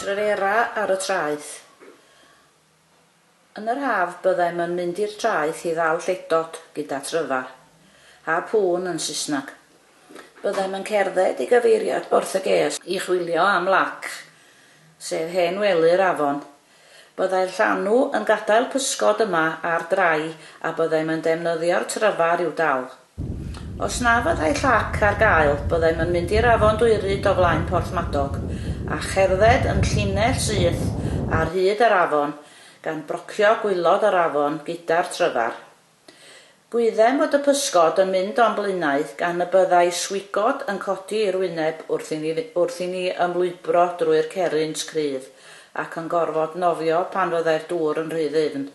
Trera ar y traeth. Yn yr haf byddem yn mynd i'r traeth i ddal lledod gyda tryfar, a pŵn yn Saesneg. Byddem yn cerdded i gyfeiriad Borthygês i chwilio am lac, sef hen wely'r afon. Byddai'r llanw yn gadael pysgod yma ar drai a byddem yn defnyddio'r tryfar i'w dal. Os na fyddai llac ar gael, byddem yn mynd i'r afon Dwyryd o flaen Porthmadog, a cherdded yn llinell syth ar hyd yr afon, gan brocio gwylod yr afon gyda'r tryfar. Gwyddem fod y pysgod yn mynd o'n blaenau, gan y byddai swigod yn codi i'r wyneb wrth i ni ymlwybro drwy'r cerrynt cryf, ac yn gorfod nofio pan fyddai'r dŵr yn rhy ddyfn.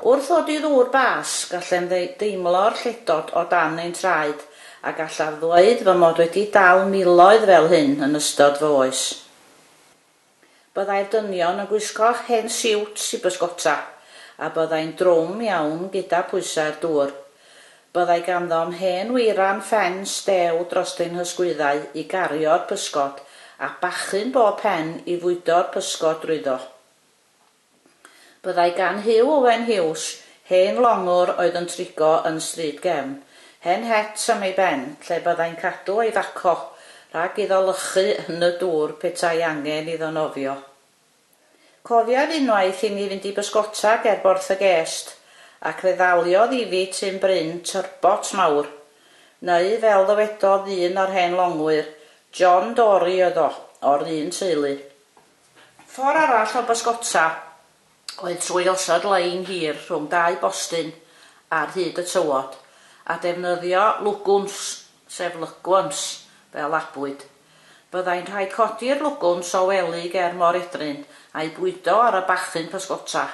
Wrth ddod i ddŵr bas, gallem ddeimlo'r lledod o dan ein traed, a gallaf ddweud fy mod wedi dal miloedd fel hyn yn ystod fy oes. Byddai'r dynion yn gwisgo hen siwts i bysgota, a byddai'n drwm iawn gyda phwysau'r dŵr. Byddai ganddo'm hen weiran ffens dew dros ein hysgwyddau i gario'r pysgod, a bachyn bob pen i fwydo'r pysgod drwyddo. Byddai gan Huw Owen Hughes, hen longwr oedd yn trigo yn Stryd Gefn, hen het am ei ben lle byddai'n cadw ei faco rhag iddo lychu yn y dŵr petai angen iddo nofio. Cofiaf unwaith i mi fynd i bysgota ger Borth-y-gest ac fe ddaliodd i fi tun bryn, turbot mawr, neu fel ddywedodd un o'r hen longwyr, John Dory oedd o, o'r un teulu. Ffordd arall o bysgota oedd trwy osod lein hir rhwng dau bostyn ar hyd y tywod, a defnyddio lwgwns, sef lygwns, fel labwyd. Byddai'n rhaid codi'r lwgwns o wely ger mor edryn a'i bwydo ar y bachyn pysgota.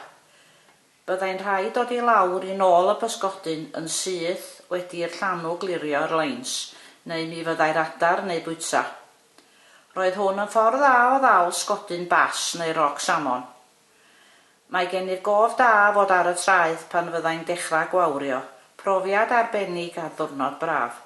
Byddai'n rhaid dod i lawr i nôl y pysgodyn yn syth wedi i'r llanw glirio'r leins, neu mi fyddai'r adar neu bwyta Roedd hwn yn ffordd dda o ddal sgodyn bass neu roc salmon. Mae gen i'r gof da fod ar y traeth pan fyddai'n dechrau gwawrio, profiad arbennig ar ddwrnod braf.